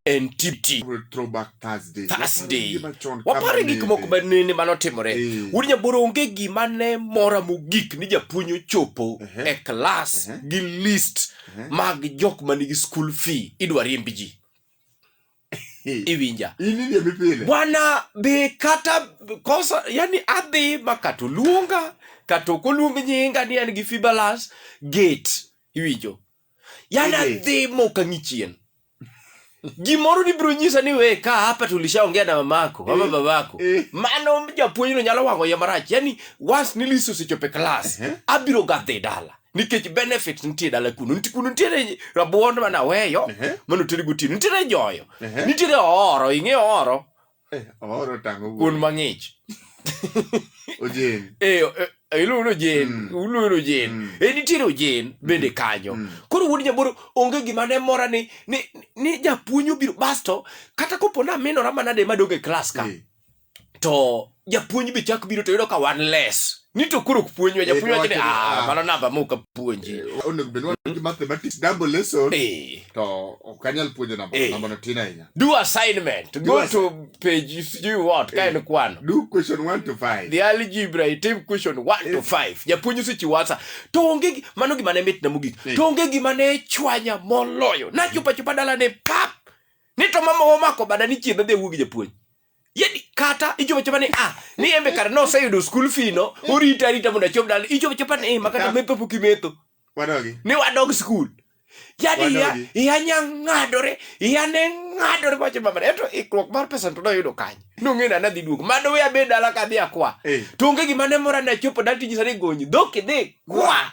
en tipti Thursday. Wapare gik moko ma nene mane otimore. Eh. Wuod Nyaboro onge gima ne mora mogik ni japuonj ochopo e klas gi list mag jok ma nigi school fee idwa riemb ji. Iwinja. Bwana be kata kosa yani adhi ma kata oluonga kata ok oluong nyinga ni an gi fibalas gate iwinjo. yani adhi moka ng'ichien gimoro nibiro nyisa ni we ka hapa tulishaongea na mamako ama eh, babako eh. mano japuonjno nyalo wang'o ya marach yani once niliso sechope klas eh. abiro gadhe dala nikech benefit nitie dala kuno nti kuno nitiere rabuond manaweyo mano teri gotieno nitiere joyo nitiere ooro ing'e ooro Eh, omoro otango wuoyi. kuon mang'ich Ojeni. Eh, eh, eh, iluongo ni ojen Mm. iluongo ni ojen Mm. Eh, nitiere ojen bende kanyo Mm. koro wuod jaboro onge gima ne mora ni ni, ni japuonj obiro basto kata kopo ni aminora manade madong e klas ka Eh, to japuonj be chak biro to yudo ka wan les ni to koro ok puonjwa eh, japuonj wacho ni ah, ah mano namba ma ok apuonji eh, onego bed wan gi mathematics double lesson eh. to ok anyal puonjo namba namba no tin ahinya do assignment do go to page if you want ka en kwano do question 1 to 5 the algebra itim question 1 to 5 japuonj osechiwo answer to onge mano gima ne mitna mogik to onge gima ne chwanya moloyo nachopo achopa dala ne pap ni to mama omako bada ni chiedha dhi wuogi japuonj Yedi kata ichopo chopa ni ah ni embe kar no sayudo school fee no orita arita mondo achop dal ichopo chopa ni eh, makata mepo pok imetho wadogi ni wadog school yani ya Wadogi. ya nya ngadore ya ne ngadore wacho mama eto ikruok mar pesa to doyudo kanye nong'e na nadhi duogo mano we abed dala kadhi akwa Eh. to onge gima ne mora ne chopo dal tiji sani gonyi dhok idhi kwa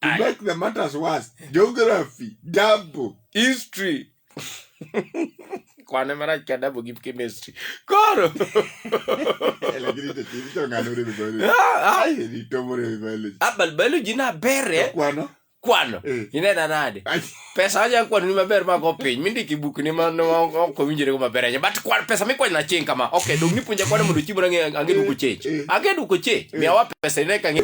To Aye. make the matters worse, geography, double. history kwane marach ka dabo gi chemistry koro Eh, lakini to- to ng'ano ore ni biology. Ah, ah, Ai, ni tomo ore ni biology. ah, but biology na bere Kwano? kwano Eh. inena nade Ai, pesa aja kwano ni maber mago piny mindiki buk ni ma no- ma- ok owinjore go maber aja but kwan pesa mikwanyo na ching kama okay dong nipuonja kwano mondo chiemo ang'e ang'e duko chich Eh. ang'e duko chich miyawa pesa ine ka ng'e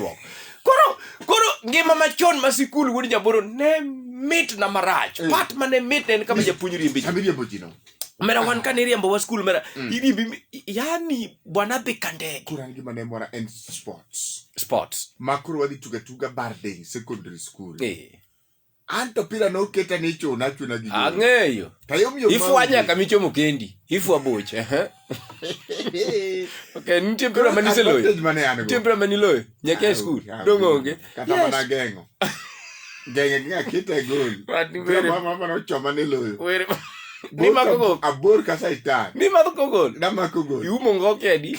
koro koro ngima machon ma sikul wuod jaboro ne mit na marach Eh. pat mane mit ne en kama japuonj riembe ji Abiriambo ji no. mera wan kane iriembo wa skul mera Mm. iriembi mi- yani bwana dhi ka ndege Koro an gima ne mora en sports. sports Ma koro wadhi tuga tuga bar day secondary school. eh anto pira noketa ni chuna chuna gi ang'eyo ifwa nyaka michomo kendi ifwa boch ok nitie mpira ma niseloyo nitie mpira ma niloyo nyaka e skul dong' onge kata mana geng'o geng'e gi akita e gol mama nochoma niloyo nimako gol abor ka saitan nimako gol namako gol iumo ngo kedi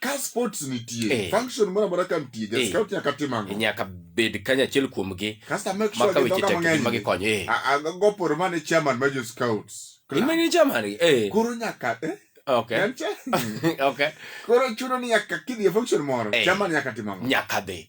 ka sports nitie Eh. function moro amora ka nitie Eh. ja scout nyaka tim ang'o nyaka bed kanyachiel kuomgi kasta make ma sure ka weche gidhoga tek gi ma mang'eny gikonyo eh. A- a- goporo mane chairman ma jo scouts in mani jamani eh. koro nyaka eh, okay en cha- okay koro chuno ni nyaka kidhi e function moro Eh. chairman nyaka tim ang'o nyaka dhi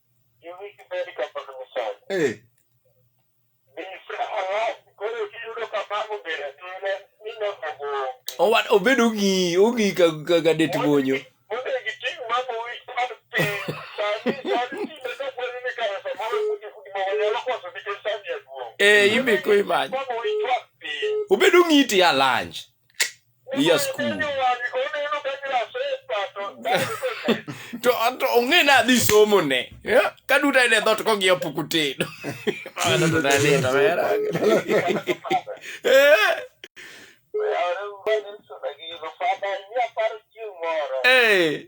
Eh. Owa- Obedo ong'i ong'i ka ka ka det bonyo. Eh, imiko imany. Obedo ong'i ti alanj. Yes, cool. to to ong'e na dhi somo ne Yeah, ka duto en e dhot kong'iyo puku tedo Mano to nalito, mera. Eh, eh.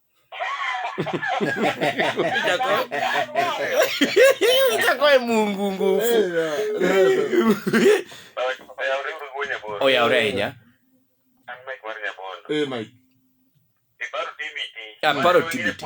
itakoe mungu nguvu oyaore ahinya aparo tibiti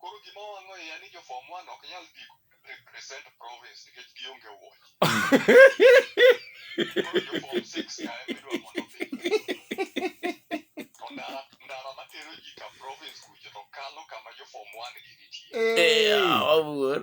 Koro gima wang'o iya ni jo form one ok nyal dhi represent province nikech gionge wuoch. Koro jo form six ka ema idwa mondo odhi. To ndara ndara matero ji ka province kucho to kalo kama jo form one gi nitie. Eh, awuor.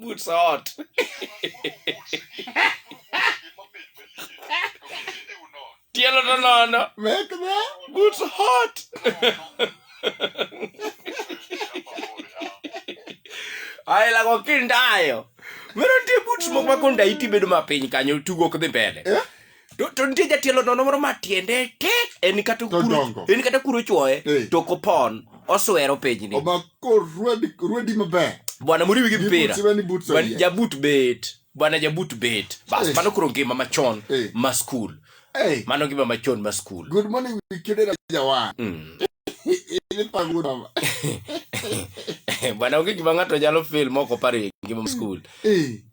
Boots hot. Tielo to nono. Make the boots hot. Ai la ko kindayo. Mero tie boots mok ma konda iti bedo mapiny kanyo tugo kdhi mbele. Eh? To, to nitie jatelo nono moro ma tiende tek en kata kuro, Todongo. en kata kuro chuoye Eh. to kopon oswero pinyni Omako rwedi rwedi maber. bwana muriwi gi Gi mpira boots, iwe ni boots Bwana- oyiech. jabut bet bwana jabut bet bas Eh. mano koro ngima machon Eh. ma skul Hey, mano ngima machon ma skul good morning Wikidera Jawan. Mm. Ili pagura. ma. bwana onge gima ng'ato nyalo fil moko pare ngima ma skul Hey,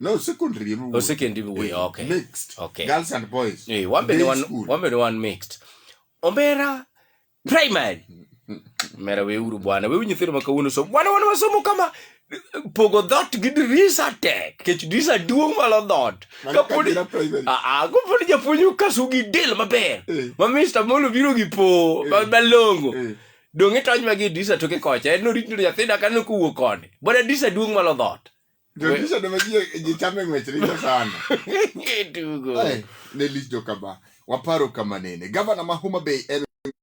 No, secondary emu. Oh, secondary emu, eh, okay. Mixed. Okay. Girls and boys. Eh, wambe ni one, wambe ni one mixed. Ombera primary. Mera we uru bwana. We nyithindo ma kawuono so. Bwana wana wasomo kama pogo dot gi dirisa tek. Kech dirisa duong' malo dot. Kapodi ah, ah kapodi japuonj okasu gi del maber. Eh. Ma Mr. Molo biro gi po eh. malongo. Eh. Donge tony magi dirisa toke kocha. En orit ni nyathina kanyo kowuok koni. Bwana dirisa duong' malo dot. Jodisha ne maji ji chame ng'wech richo sana. Tugo. Ai, ne lich joka ba. Waparo kama nene. Gavana ma Homa Bay en